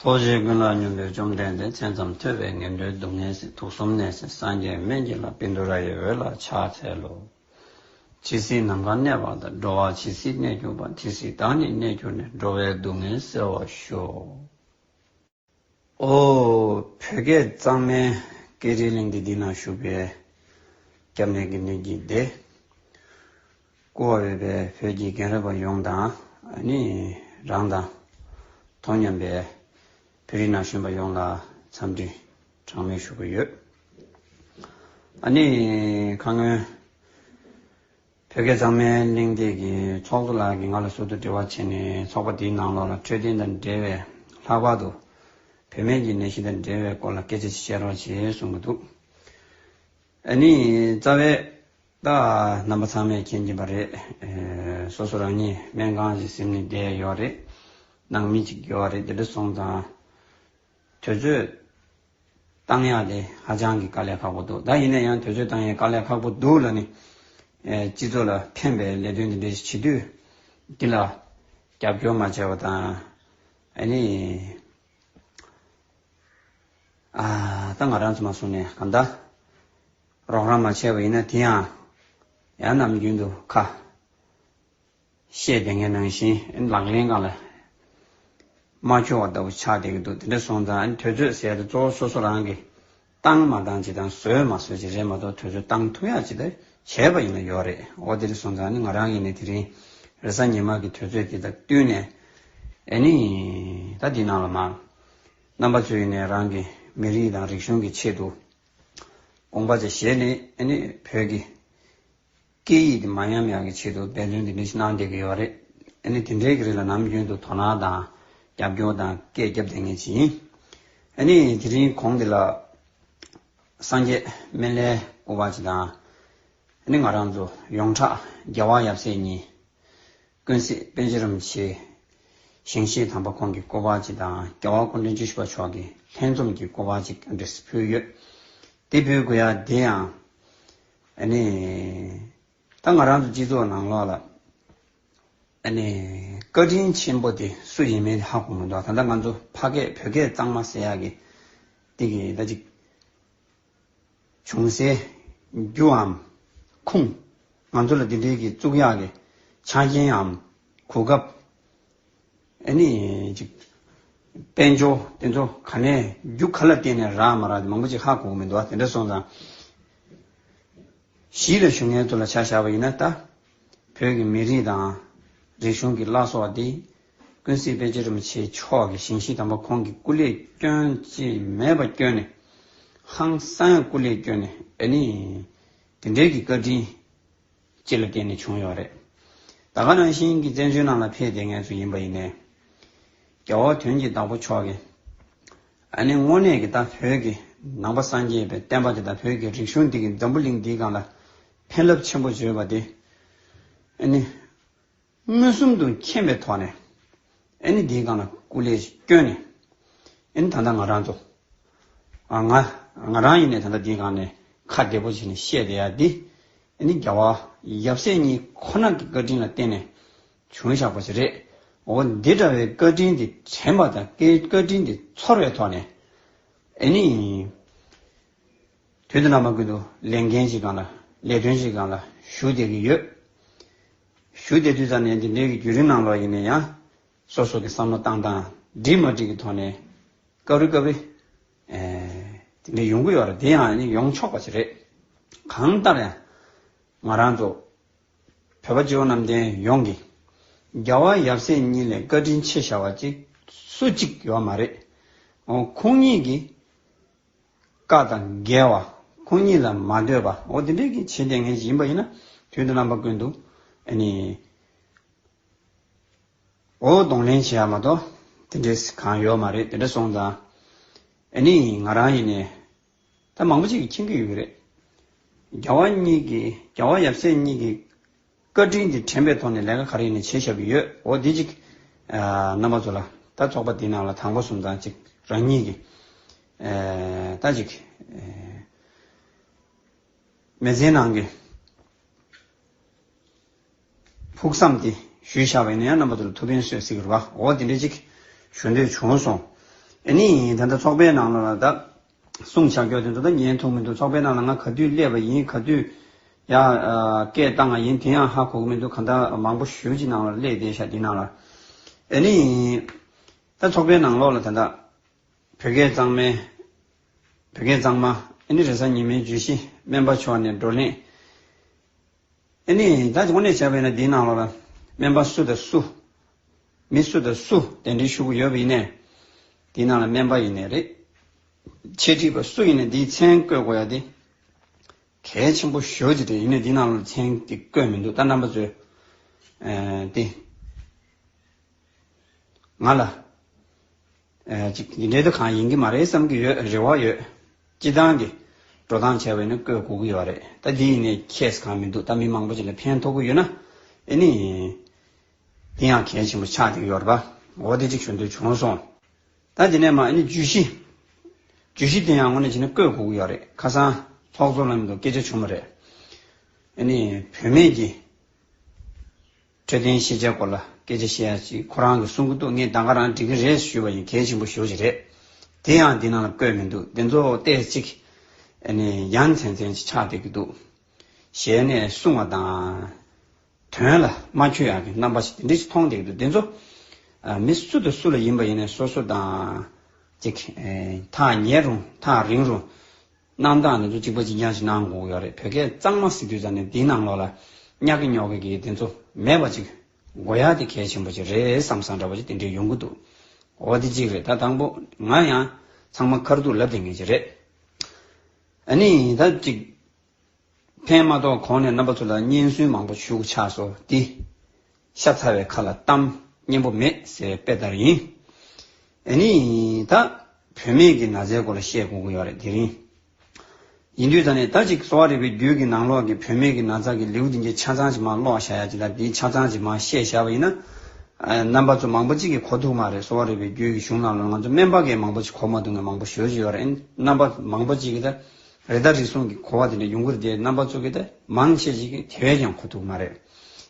ཐོག་བཞིའི་ཀུན་ལ་སྙོམས་པའི་བཅོམ་ལྡན་འདས་མཚན་ཙམ་ཐོས་པས་ངན་འགྲོའི་སྡུག་བསྔལ་སྲིད་དུག་གསུམ་ནད་སྲིད་སངས་རྒྱས་སྨན་གྱི་ལྷ་པིན་དུ་ར་ཡི་འོད་ལ་ཕྱག་འཚལ་ལོ། ཇི་སྲིད་ནམ་མཁའ་གནས་པ་དང་འགྲོ་བ་ཇི་སྲིད་གནས་གྱུར་པ་དེ་སྲིད་བདག་ནི་གནས་གྱུར་ནས་འགྲོ་བའི་སྡུག་བསྔལ་སེལ་བར་ཤོག། ཨོ། བོད་སྐད་གཙང་མའི་སྐད་རིགས་གླིང་འདི་འདི་ན་བཞུགས་པའི། སྐྱབས་གནས་དགེ་འདུན་གྱི་སྡེ། བཀུར་བ་འོས་པའི་བོད་ཀྱི་རྒན་རབས་པ་ཡོངས་དང་ནི་རང་དང། དོ་མཉམ་པའི་བོད་རིགས་ན་གཞོན་པ་ཡོངས་ལ་འཚམས་འདྲི་གྲངས་མེད་ཞུ་གི་ཡོད། ཨ་ནི་ཁ་སྔོན། བོད་སྐད་གཙང་མའི་གླེང་སྟེགས་ཀྱི་ཚོགས་གཙོ་ལགས་ཀྱིས་ང་ལ་ཟུར་དུ་འབྲེལ་བ་བྱས་ནས་ཚོགས་པ་འདིའི་ནང་ལོགས་ལ་འཕྲོད་བསྟེན་དང་འབྲེལ་བའི་ལྷག་པར་དུ་བུད་མེད་ཀྱི་ནད་གཞི་དང་འབྲེལ་བའི་སྐོར་ལ་སྐད་ཆ་བཤད་རོགས་ཞེས་གསུང་གི་འདུག་ཨ་ནི་རྩ་བའི། ད་རྣམ་པ་ཚང་མས་མཁྱེན་གྱིན་པ་རེད། སོ་སོ་རང་ཉིད་སྨན་ཁང་ཞིག་ཟིན་ནས་བསྡད་ཡོད་རེད། ནང་མི་གཅིག་ཡོད་རེད་དེ་འདྲ་སོང་ཙང། དུས་ཚོད་གཏང་ཡག་དེ་ཧ་ཅང་གི་དཀའ་ལས་ཁག་པོ་འདུག་ད་ཡིན་ན་ཡང་དུས་ཚོད་གཏང་ཡག་དཀའ་ལས་ཁག་པོ་འདུག་ལ་ནི། སྤྱི་ཚོགས་ལ་ཕན་པའི་ལས་དོན་འདི་འདྲའི་བྱེད་དུས་འདི་ལ་རྒྱབ་སྐྱོར་མ་བྱས་པ་དང། ཨ་ནི། ཨ། ད་ང་རང་ཚོ་མ་སོང་ནས་གང་ལྟ། རོགས་རམ་མ་བྱས་པ་ཡིན་ན་དེ་ཡང་ཡང་ནམ་རྒྱུན་དུ་ཁ་བཤད་དེ་ངའི་ནང་བཞིན་ལག་ལེན་གང་ལ་མ་འཁྱོལ་བ་ལྟ་བུ་ཆགས་བསྡད་ཀྱི་འདུག་དེ་འདྲ་སོང་ཙང་དོལ་ཚོད་ཟེར་ཏེ་གཙོ་བོ་སོ་སོ་རང་གིས་བཏང་མ་བཏང་ཅིག་དང་བཟོས་མ་བཟོས་ཅིག་རེད་མ་གཏོགས་དོལ་ཚོད་བཏང་ཐུག་ཡག་ཅིག་དང་བྱས་པ་ཡིན་ན་ཡོད་རེད་ཨོ་དེ་རིང་སོང་ཙང་ནི་ང་རང་ཡིན་ནས་དེ་རིང་རེས་གཟའ་ཉི་མ་གི་དོལ་ཚོད་དེ་དང་བསྟུན་ནས་ཨེ་ནི་ད་འདི་ནང་ལ་མ་རྣམ་པ་ཚོས་ནས་རང་གི་མི་རིགས་དང་རིག་གཞུང་གི་ཆེད་དུ། དགོངས་པ་དེ་བཞེས་ནས་ནི་བོད་ཀྱི་སྐད་ཡིག་འདི་མ་ཉམས་ཡག་གི་ཆེད་དུ་འབད་བརྩོན་དེ་འདྲ་ཞིག་གནང་བསྡད་ཀྱི་ཡོད་རེད། དེ་ནི་དེ་འདྲའི་གི་རིགས་ལ་ནམ་རྒྱུན་དུ་དོ་སྣང་དང་རྒྱབ་སྐྱོར་དང་སྐད་བརྒྱབ་བསྡད་ངེས་ཅི་ཡིན། ནི་དེ་རིང་གོང་འདི་ལ་སངས་རྒྱས་སྨན་བླའི་སྐུ་པར་ཅིག་དང། ནི་ང་རང་ཚོ་ཡོངས་གྲགས་རྒྱལ་བ་ཡབ་སྲས་གཉིས། ཀུན་གཟིགས་དཔལ་ཆེན་རིན་པོ་ཆེ་ཞིང་གཤེགས་དམ་པ་ཁོང་གི་སྐུ་པར་གཅིག་དང་རྒྱལ་བ་སྐུ་མགྲོན་བཅུ་བཞི་པ་མཆོག་གི་ལྷན་འཛོམས་ཀྱི་སྐུ་པར་གཅིག་འདྲེ་སི་ཕུལ་ཡོད། དེ་ཕུལ་དགོས་ཡ་དེ་ཡང། ཨ་ནི། ད་ང་རང་ཚོ་སྤྱི་ཚོགས་ནང་ལོགས་ལ། ཨ་ནི། བཀའ་དྲིན་ཆེན་པོ་དེ་སུ་ཡིན་མིན་དེ་ཧ་གོ་མི་འདུག་ད་ལྟ་ང་ཚོ་ཕ་སྐད་བོད་སྐད་གཙང་མ་ཟེར་ཡག་གི། དེ་གི་ད་ཅིག། བྱུང་སའི་རྒྱུའམ་ཁུངས། ང་ཚོ་ལ་འདི་འདྲིའི་གི་གཙུག་གཡག་གི་ཆ་རྐྱེནའམ་གོ་སྐབས། ཨེ་ནི། ཅིག། དཔལ་འབྱོར་དེ་ཚོ་ག་ནས་རྒྱུ་ག་ལ་བརྟེན་ནས་རག་མ་རག་དེ་མང་པོ་ཅིག་ཧ་གོ་གི་མི་འདུག་ཨ་དེ་འདྲ་སོང་ཙང། གཞིས་ལ་བཞུགས་མཁན་ཚོ་ལ་ཆ་བཞག་པ་ཡིན་ན་ད། བོད་ཀྱི་མི་རིགས་དང། རིག་གཞུང་གི་བླ་སྲོག་སྟེ། ཀུན་གཟིགས་དཔལ་ཆེན་རིན་པོ་ཆེ་མཆོག་གི་ཞིང་གཤིས་དམ་པ་ཁོང་གི་སྐུ་ལས་སྐྱོན་ཅིས་མེད་པ་བསྐྱོན་ནས། ཧང་སངས་སྐུ་ལས་བསྐྱོན་ནས་ཨེ་ནི། དེ་འབྲེལ་གྱི་བཀའ་དྲིན། སྤྱི་ལ་བརྟེན་ནས་བྱུང་ཡོད་རེད། ད་ག་རང་བཞིན་གྱི་བཙན་བྱོལ་ནང་ལ་ཕེབས་དེ་ངལ་རྩོལ་ཡིན་པ་ཡིན་ནའི། རྒྱ་བོ་དོན་གྱི་བདག་པོ་མཆོག་གིས། ཨ་ནི་དངོས་གནས་ཀྱི་ད་བོད་ཀྱི་ནང་པ་སངས་རྒྱས་པའི་བསྟན་པ་དེ་ད་བོད་ཀྱི་རིག་གཞུང་འདི་གི་འཛམ་བུ་གླིང་འདིའི་སྒང་ལ་ཕན་རླབས་ཆེན་པོ་བརྗོད་པ་དེ་ནི། མངོན་སུམ་དུ་མཁྱེན་པའི་ཐོག་ནས་འདིའི་སྒང་ལ་སྐུ་ལས་བསྐྱོན་ནས། ད་ལྟ་ང་རང་ཚོ། ང་རང་ཡིན་ནས་ད་ལྟ་འདིའི་སྒང་ནས་ཁ་བདེ་པོ་བྱས་ནས་བཤད་བསྡད་ཡ་འདི། རྒྱ་བ་ཡབ་སྲས་གཉིས་ཁོ་ན་གི་བཀའ་དྲིན་ལ་བརྟེན་ནས་བྱུང་བཞག་པ་ཞིག་རེད། འོ་འདི་འདྲ་བའི་བཀའ་དྲིན་འདི་དྲན་པ་དང་བཀའ་དྲིན་འདི་ཚོར་བའི་ཐོག་ནས། དུས་དེ་ན་མ་ཀུན་ཏུ་ལས་འགན་ཞིག་གང་ལ་ལས་དོན་ཞིག་གང་ལ་ཞུ་བསྡད་ཀྱི་ཡོད། ཞུ་བསྡད་དུས་ཙམ་ནས་འདི་འདྲའི་བརྒྱུད་རིམ་ནང་ལོགས་ཡིན་ན་ཡང། སོ་སོ་གི་བསམ་བློ་བཏང་དང་འགྲིག་མ་འགྲིག་གི་ཐོག་ནས། སྐབས་རེ་སྐབས་རེ། དེ་འདྲ་ཡོང་གི་ཡོད་རེད་དེ་ཡང་ཡོང་ཆོག་པ་ཞིག་རེད། གང་ལྟར་ཡང། ང་རང་ཚོ། བོད་པ་སྤྱི་བོ་གནམ་བསྟན་ཡོངས་ཀྱིས། རྒྱ་བ་ཡབ་སྲས་གཉིས་ལས་བཀའ་དྲིན་ཆེ་ཞའོ་བ་ཅིག་སུ་གཅིག་ཡོད་མ་རེད། ཁོང་གཉིས་ཀྱིས། བཀའ་དང་འགལ་བ། ཁོང་ཉིད་ལ་མ་འདོད་པ། འོ་དེ་འདྲའི་གི་བྱེད་ལས་ངན་ཞིག་ཡིན་པ་ཡིན་ན། དོན་དུ་རྣམ་པ་ཀུན་ཏུ། ཨ་ནི། འོ་གདོང་ལེན་བྱེད་ཡ་མ་གཏོགས། དེ་འདྲའི་སི་གང་ཡོད་མ་རེད་དེ་འདྲ་སོང་ཙང། ཨ་ནི་ང་རང་ཡིན་ནས། ད་མང་པོ་ཅིག་གི་མཁྱེན་གི་ཡོད་རེད། རྒྱ་བ་གཉིས་ཀྱི་རྒྱ་བ་ཡབ་སྲས་གཉིས་ཀྱི། བཀའ་དྲིན་དེ་དྲན་པའི་ཐོག་ནས་ལས་ཀ་ག་རེ་ཡིན་ནས་བྱས་བཞག་གི་ཡོད་འོ་དེ་ཅིག། རྣམ་པ་ཚོ་ལ། ད་ཚོགས་པ་འདི་ནང་ལ་དང་པོ་གསུམ་ཙང་ཅིག་རང་ཉིད་ཀྱི། ད་ཅིག། མེ་ཚའི་ནང་གི། ཕུགས་བསམ་དེ་ཞུས་བཞག་པ་ཡིན་ན་ཡང་རྣམ་པ་ཚོ་ལ་ཐུགས་ཕན་གསོས་སྲིད་ཀྱི་རེད་བ་འོ་དེ་འདྲས་ཅིག་ཞུ་འདོད་བྱུང་སོང། ཨེ་ནི། ད་ཚོགས་པའི་ནང་ལ་ད། གསུང་བྱ་དགོས་དོན་དུ་ད་ཉན་ཐུག་མི་འདུག་ཚོགས་པའི་ནང་ལ་ང་ག་དུས་སླེབས་པ་ཡིན་ག་དུས་ཡ། སྐད་བཏང་བ་ཡིན་དེ་ཡང་ཧ་གོ་གི་མི་འདུག་ག་ད་མང་པོ་ཞོལ་གྱི་ནང་ལ་སླེབས་བསྡད་ཤག་འདི་ནང་ལ་ཨེ་ནི་ཡིན། ད་ཚོགས་པའི་ནང་ལོགས་ལ་ད་ད། བོད་སྐད་གཙང་མའི། བོད་སྐད་གཙང་མ་ཨེ་ནི་རེ་ས་ཉི་མའི་བརྗོད་གཞི་སྨན་པ་མཆོག་ནས་བགྲོ་གླེང། ཨེ་ནི། ད་དེ་ཁོ་ནས་བྱས་པ་ཡིན་ན་དེའི་ནང་ལོགས་ལ། སྨན་པ་སུ་དང་སུ། མི་སུ་དང་སུ་གདན་འདྲེན་ཞུ་གི་ཡོད་པ་ཡིན་ནས། དེའི་ནང་ལ་སྨན་པ་ཡིན་ནས་རེད། འཆད་ཁྲིད་པ་སུ་ཡིན་ནས་དེའི་མཚན་བཀོད་དགོས་ཡ་དེ། གལ་ཆེན་པོ་ཞོ་ཅིག་རེད་ཡིན་ནས་དེའི་ནང་ལོགས་ལ་མཚན་དེ་བཀོད་མི་འདུག་ད་རྣམ་པ་ཚོས། དེ། ང་ལ། འདི་འབྲེལ་དུ་གང་ཡིན་གྱི་མ་རེད་བསམ་གྱི་ཡོད་རེ་བ་ཡོད། སྤྱི་བཏང་གི་འགྲོ་སྟངས་བྱས་པས་ནི་བཀོད་གོ་གི་ཡོད་རེད་ད་འདི་ཡིན་ནའི case གང་མི་འདུག་ད་མི་མང་པོ་ཅིག་ལ་ཕན་ཐོག་གི་ཡོད་ན་ཨེ་ནི། དེ་ཡང་གལ་ཆེན་པོ་ཆགས་ཀྱི་ཡོད་རེད་པ། འོ་དེ་ཅིག་ཞུ་འདོད་བྱུང་སོང། ད་འདི་ནས་མ་ཨེ་ནི་བརྗོད་གཞི། བརྗོད་གཞི་དེ་ཡང་ངོ་ནས་བྱས་ན་བཀོད་གོ་གི་ཡོད་རེད་ཁ་སང་ཚོགས་གཙོ་ལམ་དུ་སྐད་ཆ་བྱུང་བ་རེད། ཨེ་ནི་བུད་མེད་ཀྱི། འཕྲོད་བསྟེན་ཤེས་བྱའི་སྐོར་ལ་སྐད་ཆ་བཤད་ཡ་ཅིག་ཁོ་རང་གི་གསུང་གི་སྡུག་བསྔལ་ད་ག་རང་འགྲིག་གི་རེད་ཞུས་པ་ཡིན་གལ་ཆེན་པོ་ཞོག་ཅིག་རེད། དེ་ཡང་འདི་ནང་ལ་བཀོད་མི་འདུག་འདི་ཚོ་བལྟས་ཅིག། ཨ་ནི་ཡ་མཚན་མཚན་ཅིག་ཆགས་བསྡད་ཀྱི་འདུག། ཞལ་ནས་གསུང་བ་དང། དོན་ལ་མ་འཁྱོལ་ཡག་གི་རྣམ་པ་ཞིག་དེ་འདྲས་ཅིག་མཐོང་བསྡད་ཀྱི་འདུག་འདི་ཚོ། མི་སུ་དང་སུ་ལ་ཡིན་པ་ཡིན་ནས་སོ་སོ་དང། ཅིག། ཐག་ཉེ་རུང་ཐག་རིང་རུང། གནང་སྟངས་དེ་ཚོ་གཅིག་པ་གཅིག་རྐྱང་ཞིག་གནང་དགོས་ཀྱི་ཡོད་རེད་བོད་སྐད་གཙང་མ་སི་དུས་ཙང་ནས་འདི་ནང་ལོགས་ལ་གཉག་གི་ཉོག་གི་གི་དེ་ཚོ་མེད་པ་ཅིག་དགོས་ཡ་དེ་གལ་ཆེན་པོ་ཅིག་རེད་བསམ་བསམ་འདྲ་པོ་ཅིག་དེ་འདྲས་ཡོང་གི་འདུག་འོ་དེ་གཅིག་རེད་ད་དང་པོ་ང་ཡང་ཚང་མ་ཁར་འདུག་ལབ་དེ་ངེས་ཅིག་རེད་ཨ་ནི་ད་གཅིག། ཕན་མ་གཏོགས་གོང་ནས་རྣམ་པ་ཚོ་ལ་སྙན་སུན་མང་པོ་ཞུགས་ཆགས་སོ་ཏི། ཤ་ཚ་བའི་ཁ་ལ་གཏམ་སྙན་པོ་མེད་ཟེར་བའི་དཔེ་ལྟར་ཡིན། ཨེ་ནི། ད་བུད་མེད་ཀྱི་ན་ཚའི་སྐོར་ལ་བཤད་དགོས་ཀྱི་ཡོད་རེད་དེ་རིང། ཡིན་དུས་ད་ནས་ད་ཅིག་གསོ་བ་རིག་པའི་རྒྱུད་ཀྱི་ནང་ལོགས་ཀྱི་བུད་མེད་ཀྱི་ན་ཚ་གི་ལེའུ་འདི་འདྲའི་ཆ་ཚང་ཅིག་མ་ཀློག་བཞག་ཡ་ཅིག་ལ་འདིའི་ཆ་ཚང་ཅིག་མ་བཤད་བཞག་པ་ཡིན་ན། རྣམ་པ་ཚོ་མང་པོ་ཅིག་གིས་གོ་ཐུབ་མ་རེད་གསོ་བ་རིག་པའི་རྒྱུད་ཀྱི་གཞུང་རྣམས་ལ་ང་ཚོ་སྨན་པ་འགས་མང་པོ་ཅིག་གོ་མ་ཐུབ་ངས་མང་པོ་ཞུ་བཞིན་ཡོད་རེད་རྣམ་པ་མང་པོ་ཅིག་གིས་ད། རེ་དྭགས་རིགས་སོང་གི་གོ་བ་དེ་འདྲ་ཡོང་གི་རེད་དེ་རྣམ་པ་ཚོ་གི་ད་མང་ཆེ་ཞིག་གི་དེ་བས་ཀྱང་གོ་ཐུབ་མ་རེད།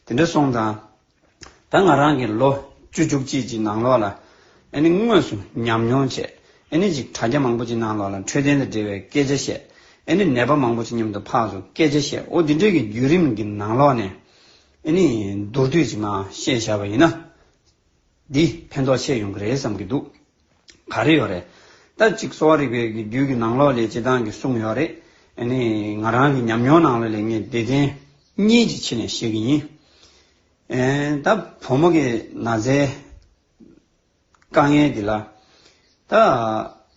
དེ་འདྲ་སོང་ཙང། ད་ང་རང་གི་ལོ་བཅུ་བཅུ་གཅིག་ཅིག་ནང་ལོགས་ལ། ཨེ་ནི་དངོས་སུ་ཉམས་མྱོང་བྱས། ཨེ་ནི་ཅིག་དྲ་རྒྱ་མང་པོ་ཅིག་ནང་ལོགས་ལ་འཕྲོད་བསྟེན་དང་འབྲེལ་བའི་སྐད་ཆ་བཤད། ཨེ་ནི་ནད་པ་མང་པོ་ཅིག་མཉམ་དུ་འཕགས་སོང་སྐད་ཆ་བཤད་འོ་དེ་འདྲའི་གི་བརྒྱུད་རིམ་གི་ནང་ལོགས་ནས། ཨེ་ནི་མདོར་བསྡུས་ཅིག་མ་བཤད་བཞག་པ་ཡིན་ན། འདི་ཕན་ཐོགས་ཆེ་ཡོང་གི་རེད་བསམ་གི་འདུག་ག་རེ་ཡོད་རེད། ད་ཅིག་གསོ་བ་རིག་པའི་རྒྱུད་ཀྱི་ནང་ལོགས་ལས་སྤྱི་བཏང་གིས་གསུངས་ཡོད་རེད། ནི། ང་རང་གི་ཉམས་མྱོང་ནང་ལོགས་ལས་ངས་བདེ་ལྡན། གཉིས་ཀྱི་ཆེད་ནས་བཤད་ཀྱི་ཡིན། ད། བུ་མོ་གི་ན་བཟའི། དཀའ་ངལ་འདི་ལ། ད།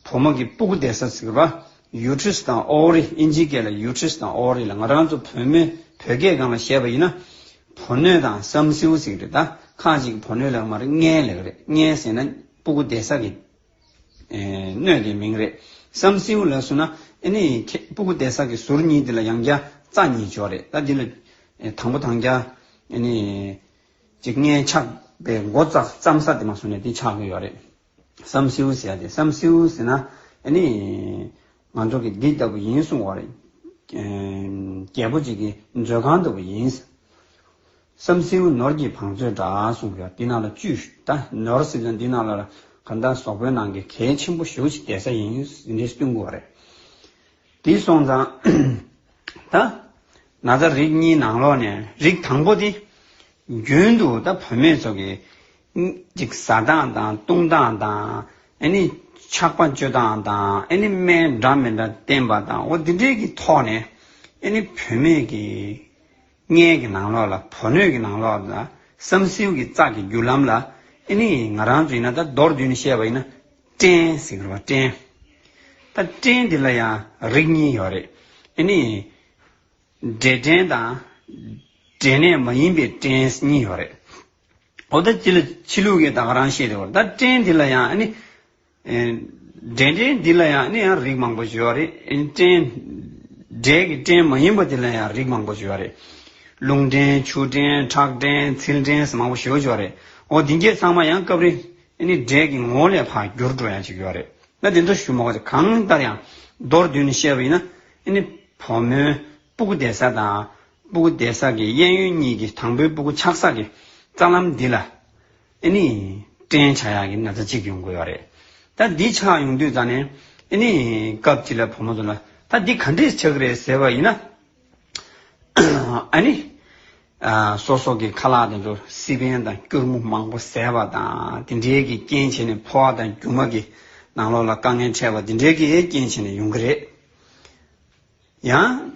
བུ་མོ་གི་སྤུ་གུ་འདེད་ས་ཟེར་གི་པ། Uterus དང Ovary ཨིན་ཇི་སྐད་ལ Uterus དང Ovary ལ་ང་རང་ཚོ་བོད་མི། བོད་སྐད་སྒང་ལ་བཤད་པ་ཡིན་ན། བུ་སྣོད་དང་བསམ་སེའུ་ཟེར་གི་རེད་ད། ཁ་ཅིག་གིས་བུ་སྣོད་ལེགས་མ་རེད་མངལ་ལེགས་རེད་མངལ་ཟེར་ན། སྤུ་གུ་དེ་ས་གི་སྣོད་ཀྱི་མིང་རེད་བསམ། སེའུ་ལ་སོ་ན་ཨེ་ནི་ཁྱེད་སྤུ་གུ་དེ་ས་གི་ཟུར་གཉིས་དེ་ལ་ཡང་བརྒྱ་རྩ་གཉིས་འཇོག་རེད་ད་འདི་ལ། དང་པོ་དང་བརྒྱ། ཨེ་ནི། ཅིག་ལྔའི་ཆགས་པའི་མགོ་བརྩམ་ས་དེ་མ་སོ་ནས་དེ་ཆགས་གི་ཡོད་རེད་བསམ། སེའུ་ཟེར་དེ་བསམ་སེའུ་ཟེར་ན་ཨེ་ནི། ང་ཚོ་གི་འདི་ལྟ་བུ་ཡིན་གསུང་བ་རེད། རྒྱལ་པོ་ཅིག་གི་མཛོད་ཁང་ལྟ་བུ་ཡིན། བསམ་སེའུ་ནོར་གྱིས་བང་མཛོད་འདྲ་གསུངས་པའི་འདི་ནང་ལ་བཅུས་ད་ནོར་ཟེར་ན་འདི་ནང་ལ་གང་ལྟར་ཟོག་པོའི་ནང་གི་གལ་ཆེན་པོ་བཞུགས་ཤིག་བསྡད་ས་ཡིན་རེད་སྟོན་དགོས་བ་རེད། དེ་སོང་ཙང་ད་ན་ཚ་རིགས་གཉིས་ནང་ལོག་ནས་རིགས་དང་པོ་དེ་རྒྱུན་དུ་ད་བུད་མེད་ཚོ་གི་ཅིག་ཟ་སྟངས་དང་བཏུང་སྟངས་དང་ཨེ་ནི་ཆགས་པ་སྤྱོད་སྟངས་དང་ཨེ་ནི་སྨན་འདྲ་མི་འདྲ་བསྟེན་པ་དང་འོ་དེ་འདྲའི་གི་ཐོག་ནས་ཨེ་ནི་བུད་མེད་གི་མངལ་གྱི་ནང་ལོགས་ལ་བོ་སྣོད་ཀྱི་ནང་ལོགས་ལ་བསམ་སེའུ་གི་ཙག་གི་རྒྱུ་ལམ་ལ་ཨེ་ནི་ང་རང་ཚོ་ཡིན་ན་ད་མདོར་བསྡུས་ནས་བཤད་པ་ཡིན་ན་སྐྲན་ཟེར་གི་རེད་བ་སྐྲན། ད་སྐྲན་དེ་ལ་ཡང་རིགས་གཉིས་ཡོད་རེད་ཨེ་ནི། འབྲས་སྐྲན་དང། འབྲས་ནད་མ་ཡིན་པའི་སྐྲན་གཉིས་ཡོད་རེད། འོ་ད་སྤྱི་ལ་ཕྱི་ལུགས་ཀྱི་ད་ག་རང་ཤེས་དེ་གོ་ད་སྐྲན་དེ་ལ་ཡང་ཨེ་ནི། འབྲེལ་འདྲེས་འདི་ལ་ཡང་ནི་ཡང་རིགས་མང་པོ་བརྗོད་པ་རེད། འབྲེལ་འབྲེལ་གྱི་འབྲེལ་མ་ཡིན་པ་དེ་ལ་ཡང་རིགས་མང་པོ་བརྗོད་པ་རེད། རླུང་འབྲེལ་ཆུ་འབྲེལ་ཁྲག་འབྲེལ་ཚིལ་འབྲེལ་ཟེར་མང་པོ་ཞེས་བརྗོད་པ་རེད། འོ་འདི་འགའི་ཚང་མ་ཡང་སྐབས་རེ་ནི་འབྲེལ་གྱི་ངོ་བོ་ལས་འཕགས་འགྱུར་འགྲོ་ཡང་ཅིག་ཡོད་རེད། ན་དེ་ཚོ་ཞུ་མ་གོ་གང་ལྟར་ཡང་མདོར་བསྡུས་ནས་བཤད་པ་ཡིན་ན། བུ་མོའི་སྤུ་གུ་བདེ་ས་དང་སྤུ་གུ་བདེ་ས་ཀྱི་གཡས་གཡོན་གཉིས་ཀྱི་དང་པོའི་སྤུ་གུ་ཆགས་ས་ཀྱི་རྩ་ལམ་འདི་ལ། ཨེ་ནི། བཀྲེན་ཆགས་ཡག་གི་ན་ཚ་གཅིག་ཡོང་དགོས་པ་རེད། ད་འདི་ཆགས་ཡོང་དུས་ད་ནི། ཨེ་ནི། སྐབས་དེ་ལ་བུ་མོ་ཚོ་ལ། ད་འདི་ག་འདྲས་ཆགས་ཀྱི་རེད་ཟེར་བ་ཡིན་ན། ཨེ་ནི། སོ་སོ་གི་ཁ་ལག་དེ་ཚོར་སི་པན་དང་སྐྱུར་མོ་མང་པོ་ཟས་པ་དང་དེ་འདྲས་ཀྱི་རྐྱེན་བྱས་ནས་ཕོ་བ་དང་རྒྱུ་མ་གི་ནང་ལོགས་ལ་དཀའ་ངལ་འཕྲད་པ་དེ་འདྲས་ཀྱི་རྐྱེན་བྱས་ནས་ཡོང་གི་རེད། ཡང།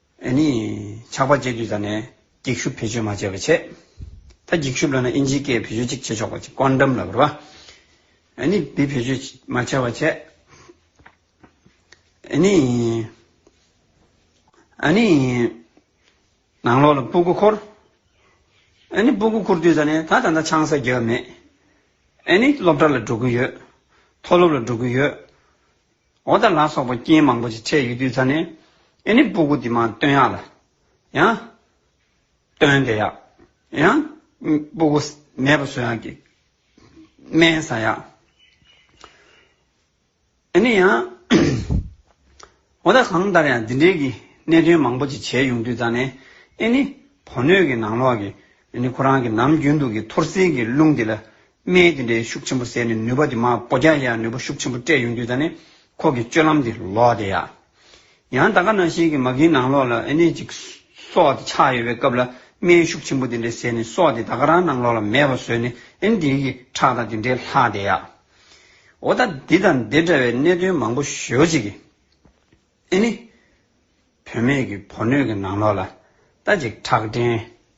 ཨེ་ནི། ཆགས་པ་བཅས་དུས་ད་ནས། འགྱིག་ཤུབས་བེད་སྤྱོད་མ་བྱས་པའི་ཆེད། ད་འགྱིག་ཤུབས་ལ་ན་ཨིན་ཇིའི་སྐད་བེད་སྤྱོད་ཅིག་བྱེད་ཆོག་པ་ཅིག་བཀོད་འགྲམ་ལ་བོར་བ། ཨེ་ནི། བི་བེད་སྤྱོད་མ་བྱས་པ་ཆེད། ཨེ་ནི། ཨེ་ནི། ནང་ལོགས་ལ་སྤུ་གུ་འཁོར། ཨེ་ནི། སྤུ་གུ་འཁོར་དུས་ད་ནས་ད་ད་ལྟ་ཆང་ས་རྒྱག་མེད། ཨེ་ནི། སློབ་གྲྭ་ལ་འགྲོ་གི་ཡོད། མཐོ་སློབ་ལ་འགྲོ་གི་ཡོད། འོ་ད་ལ་སོགས་པ་རྐྱེན་མང་པོ་ཞིག་འཕྲད་ཡོད་དུས་ད་ནི་ཨེ་ནི་སྤུ་གུ་དེ་མ་སྟོན་ཡག་ལ། ཡང། སྟོན་དེ་ཡག། ཡང། སྤུ་གུ་མེད་པ་བཟོ་ཡག་གི། སྨན་ཟ་ཡག། ཨེ་ནི་ཡང། འོ་ད་གང་ལྟར་ཡང་འདི་འདྲའི་གི་གནད་དོན་མང་པོ་ཞིག་བྱས་ཡོང་དུས་ད་ནི་ཨེ་ནི་བོ་སྣོད་ཀྱི་ནང་ལོགས་ཀྱི་ཨེ་ནི་ཁོ་རང་གི་ནམ་རྒྱུན་དུ་གི་འཐོར་སིལ་གྱི་རླུང་དེ་ལ་སྨན་དེ་འདྲའི་ཤུགས་ཆེན་པོ་བཟས་ནས་ནུས་པ་དེ་མ་བོ་རྒྱག་ཡ་ནུས་པ་ཤུགས་ཆེན་པོ་སྤྲད་ཡོང་དུས་ད་ནི་ཁོ་གི་སྤྱོད་ལམ་དེ་ལོག་དེ་ཡ། ཡང་ད་ག་ན་ཞིག་གི་མ་གིའི་ནང་ལོག་ལ་ཨེ་ནས་ཅིག་སོགས་དེ་ཆགས་ཡོད་པའི་སྐབས་ལ་སྨན་ཤུགས་ཆེན་པོ་དེ་འདྲའི་བཟས་ནས་སོགས་དེ་ད་ག་རང་ནང་ལོག་ལ་མེད་པ་བཟོས་ནས་ཨེ་ནས་དེའི་གི་ཁྲག་དང་དེ་འདྲའི་ལྷག་དེ་ཡ། འོ་ད་འདི་དང་འདི་འདྲ་བའི་གནད་དོན་མང་པོ་ཞོ་ཅིག་གི། ཨེ་ནས། བུད་མེད་ཀྱི་བོ་སྣོད་ཀྱི་ནང་ལོག་ལ་ད་ཅིག་ཁྲག་འདྲེན།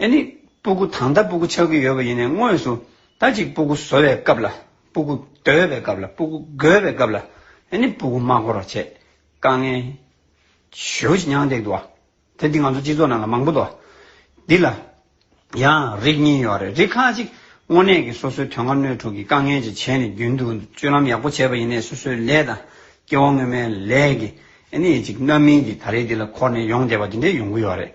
ཨེ་ནི། སྤུ་གུ་དང་ད་སྤུ་གུ་ཆགས་ཀྱི་ཡོད་པ་ཡིན་ནའི་དངོས་སུ་ད་ཅིག་སྤུ་གུ་བཟོ་བའི་སྐབས་ལ་སྤུ་གུ་སྡོད་པའི་སྐབས་ལ་སྤུ་གུ་བགོས་པའི་སྐབས་ལ་ཨེ་ནི་སྤུ་གུ་མ་བགོ་རོགས་བྱས། དཀའ་ངལ། ཞོའི་ཅི་མྱང་འདེགས་འདུག་བ། དེ་འདི་ང་ཚོ་སྤྱི་ཚོགས་ནང་ལ་མང་པོ་འདུག་བ། འདི་ལ་ཡང་རིགས་གཉིས་ཡོད་རེད་རིགས་ཁ་ཅིག་དངོས་གནས་ཀྱི་སོ་སོའི་དོན་ཁ་སྣོད་དྲུག་གི་དཀའ་ངལ་ཅིག་བྱས་ནས་རྒྱུན་དུ་སྤྱོད་ལམ་ཡག་པོ་བྱས་པ་ཡིན་ནའི་སོ་སོའི་ལས་དང་སྐྱེ་བོ་སྔོན་མའི་ལས་ཀྱི་ཨེ་ནས་ཅིག་རྣམ་སྨིན་གྱིས་ད་རེས་འདི་ལ་འཁོར་ནས་ཡོང་བསྡད་པ་དེ་འདྲས་ཡོང་གི་ཡོད་རེད།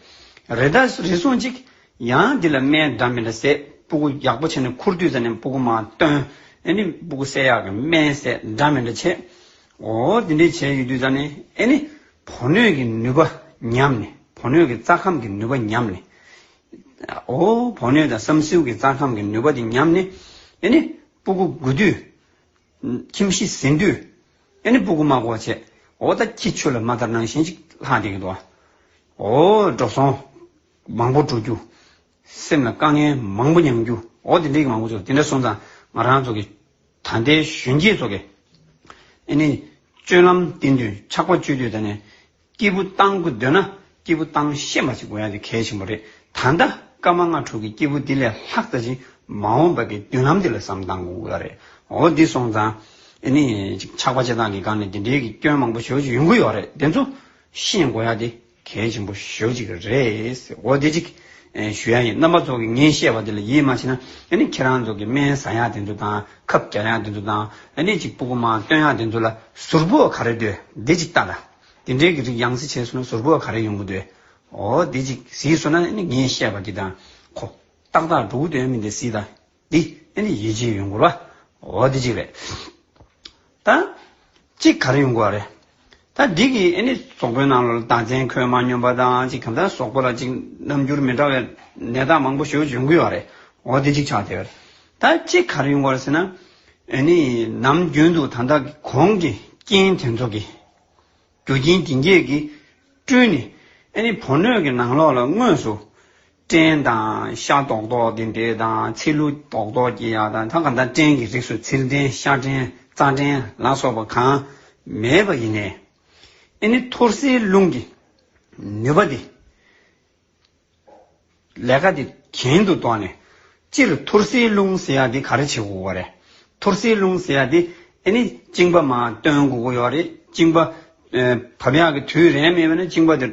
རེ་ད་རེ་སོང་ཅིག། ཡང་འདི་ལ་སྨན་འདྲ་མིན་ལ་ཟས་སྤུ་གུ་ཡག་པོ་བྱས་ནས་འཁུར་དུས་ཟ་ནས་སྤུ་གུ་མ་བཏོན། ཨེ་ནས་སྤུ་གུ་བསད་ཡག་གི་སྨན་ཟས་འདྲ་མིན་འདྲ་བྱས། འོ་དེ་འདྲས་བྱས་ཡོད་དུས་ཟ་ནས་ཨེ་ནས་བོ་སྣོད་ཀྱི་ནུས་པ་ཉམས་ནས་བོ་སྣོད་ཀྱི་རྩ་ཁམས་ཀྱི་ནུས་པ་ཉམས་ནས། འོ་བོ་སྣོད་དང་སྲམ་སེའུ་ཀྱི་རྩ་ཁམས་ཀྱི་ནུས་པ་དེ་ཉམས་ནས་ཨེ་ནས་སྤུ་གུ་དགོས་དུས། ཁྱིམ་གཞི་ཟིན་དུས། ཨེ་ནི་སྤུ་གུ་མ་གོ་བྱེད། འོ་ད་ཁྱི་ཆོས་ལ་མ་ལྟར་ནང་བཞིན་ཅིག་ལྷག་འདེགས་འདུག། འོ། འགྲོ་སོང། མང་པོ་འགྲོ་རྒྱུ། སེམས་ལ་དཀའ་ངལ་མང་པོ་མྱངས་རྒྱུ། འོ་དེ་འདྲའི་གི་མང་པོ་ཚོ་དེ་འདྲ་སོང་ཙང་ང་རང་ཚོ་གི། ད་ལྟའི་གཞོན་སྐྱེས་ཚོ་གི། ཨེ་ནི། སྤྱོད་ལམ་བསྟེན་དུས་ཆགས་པ་སྤྱོད་དུས་ད་ནི། སྐྱེས་བུ་བཏང་དགོས་འདོད་ན་སྐྱེས་བུ་བཏང་ཤེས་མ་བྱེད་དགོས་ཡང་དེ་གལ་ཆེན་པོ་རེད། ད་ལྟ་སྐར་མ་ལྔ་དྲུག་གི་སྐྱེས་བུ་འདི་ལས་ལྷག་བསྟར་ཅིང་མ་འོངས་པའི་མདུན་ལམ་འདི་ལ་བསམ་གཏང་དགོས་ཀྱི་རེད། འོ་འདི་སོང་ཙང་ཨེ་ནི། ཆགས་པ་བྱེད་སྟངས་ཀྱི་སྒང་ནས་འདི་འདྲའི་གི་སྐྱོན་མང་པོ་ཞོག་ཅིག་ཡོང་གི་ཡོག་རེད་དེ་ཚོ་ཤེས་དགོས་ཡག་དེ་གལ་ཆེན་པོ་ཞོག་ཅིག་གི་རེད། འོ་འདི་ཅིག་ཞུ་ཡག་ཡིན་རྣམ་པ་ཚོ་གི་ངས་བཤད་པ་འདི་ལ་ཡིད་མ་ཆེས་ན་ཨེ་ནི་ཁྱེད་རང་ཚོ་གི་སྨན་བཟའ་ཡག་དེ་ཚོ་དང་ཁབ་རྒྱག་ཡག་དེ་ཚོ་དང་ཨེ་ནི་ཅིག་སྤུ་གུ་མང་སྟོན་ཡག་དེ་ཚོ་ལ་ཟུར་བུ་བ་ག་རེ་འདོད་འདི་ཅིག་ལྟ་ལ། དེ་འདྲའི་གི་རིགས་ཡང་བཟི་བྱས་སོང་ན་ཟུར་བུ་བ་ག་རེ་ཡོང་གི་འདོད། འོ་དེ་ཅིག་བཟི་སོང་ན་ནི་ངས་བཤད་པ་གི་དང་གོ། ཏག་ཏག་འགྲོ་གི་འདོད་ཡ་མིན་དེ་བཟི་ད་འདི་ཨེ་ནི་ཡིད་ཆེས་ཡོང་གི་རོ། འོ་དེ་ཅིག་རེད། ད། ཅིག་ག་རེ་ཡོང་གི་བ་རེད། ད་འདི་གི་ཨེ་ནི་ཟོག་པོའི་ནང་ལོ་ལ་དང་ཚན་ཁོད་མ་སྙོམས་པ་དང་ཅིག་གམ་ད་ཟོག་པོ་ལ་ཅིག་རྣམ་འགྱུར་མི་འདྲ་བའི་ནད་རྟགས་མང་པོ་ཞིག་འབྱུང་གི་བ་རེད། འོ་དེ་ཅིག་ཆགས་བསྡད། ད་ཅི་ག་རིང་བར་ཟེར་ན། ནི་ནམ་རྒྱུན་དུ་དང་བདག་གི་གོང་གི་རྐྱེན་དེ་ཚོ་གི། རྒྱུ་རྐྱེན་དེ་བརྒྱད་ཀྱིས་བསྐྲུན་ནས། ནི་བུ་སྣོད་ཀྱི་ནང་ལོགས་ལ་དངོས་སུ། སྐྲན་དང་ཤ་རྡོག་རྡོག་དེ་འདྲས་དང་ཚིལ་ལུ་རྡོག་རྡོག་གྱི་ཡ་དང་ད་ག་ད་སྐྲན་གྱི་རིགས་སུ་ཚིལ་སྐྲན་ཤ་སྐྲན་རྩ་སྐྲན་ལ་སོགས་པ་གང་མེད་པ་ཡིན། ནི་ཐུར་སེལ་རླུང་གི་ནུས་པ་དེ། ལས་ཀ་དེ་གྱེན་དུ་བཏོན་ནས། སྤྱིར་ཐུར་སེལ་རླུང་ཟེར་ཡ་དེ་ག་རེ་བྱེད་དགོས་པ་རེད། ཐུར་སེལ་རླུང་ཟེར་ཡ་དེ་ཨེ་ནི་བཅིངས་པ་མ་བཏོན་དགོས་ཀྱི་ཡོད་རེད། བཅིངས་པ་བབས་ཡག་གི་དུས་རན་མེད་པས་ན་བཅིངས་པ་དེ་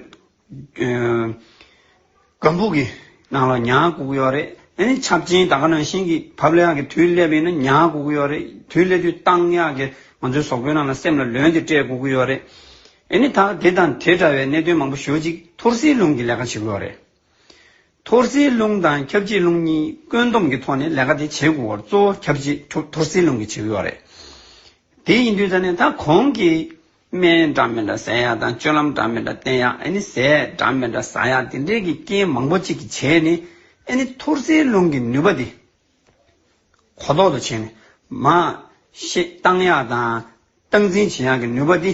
སྒམ་པོ་གི་ནང་ལ་ཉར་དགོས་ཀྱི་ཡོད་རེད། ཨེ་ནི་ཆབ་ཆེན་དག་ནང་བཞིན་གྱི་བབས་ཡག་གི་དུས་སླེབས་པས་ན་ཉར་དགོས་ཀྱི་ཡོད་རེད། དུས་སླེབས་དུས་གཏང་ཡག་གི་ང་ཚོའི་ཟོག་པོའི་ནང་ལ་སེམས་ལ་ལོན་དེ་སྤྲད་དགོས་ཀྱི་ཡོད་རེད། ཨེ་ནི་ད་དེ་དང་དེ་འདྲ་བའི་གནད་དོན་མང་པོ་ཞོད་ཅིག་ཐོར་སིའི་རླུང་གིས་ལས་ཀ་བྱེད་དགོས་བ་རེད། ཐོར་སིའི་རླུང་དང་ཁྱབ་བྱེད་རླུང་གཉིས་བཀོད་འདོམས་ཀྱི་ཐོག་ནས་ལས་ཀ་དེ་བྱེད་དགོས་བར་གཙོ་བོ་ཁྱབ་བྱེད་ཐོར་སིའི་རླུང་གིས་བྱེད་དགོས་བ་རེད། དེ་ཡིན་དུས་ད་ནི་ད་གོང་གི། སྨན་འདྲ་མི་འདྲ་ཟས་ཡག་དང་སྤྱོད་ལམ་འདྲ་མི་འདྲ་བསྟེན་ཡག་ཨེ་ནི་ཟས་འདྲ་མི་འདྲ་ཟ་ཡག་དེ་འདྲའི་གི་རྐྱེན་མང་པོ་ཅིག་གི་བྱས་ནི་ཨེ་ནི་ཐོར་སིའི་རླུང་གི་ནུས་པ་དེ་གོ་ལྡོག་ཏུ་བྱས་ནས། མ། ཤེས་རྟགས་ཡག་དང། སྟངས་འཛིན་བྱེད་ཡག་གི་ནུས་པ་འདི།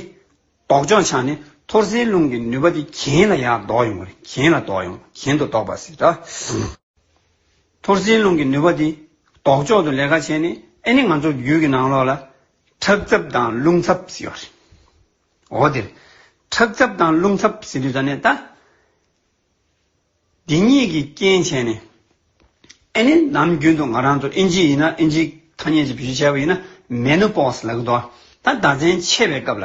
ལྡོག་ཕྱོགས་ཆ་ནས་ཐོར་ཟའི་རླུང་གི་ནུས་པ་འདི་གྱེན་ལ་ཡར་ལྡོག་ཡོང་གི་གྱེན་ལ་ལྡོག་ཡོང་གྱེན་དུ་ལྡོག་པ་སྲིད་ད། ཐོར་ཟའི་རླུང་གི་ནུས་པ་འདི། ལྡོག་ཕྱོགས་ཏུ་ལས་ཀ་བྱས་ནས་ཨེ་ནི་ང་ཚོ་རྒྱུད་ཀྱི་ནང་ལོགས་ལ། ཁྲག་ཚབ་དང་རླུང་ཚབ་ཟེར་བ་རེད། འོ་དེར། ཁྲག་ཚབ་དང་རླུང་ཚབ་ཟེར་དུས་ད་ནས་ད། འདི་གཉིས་ཀྱི་རྐྱེན་བྱས་ནས། ཨེ་ནི་ནམ་རྒྱུན་དུ་ང་རང་ཚོ་ཨིན་ཇི་ཡིན་ན་ཨིན་ཇིའི་ཐ་སྙད་ཅིག་བེད་སྤྱོད་བྱས་པ་ཡིན་ན Menopause ལགས་དོ། ད་ཟླ་མཚན་ཆད་པའི་སྐབས་ལ།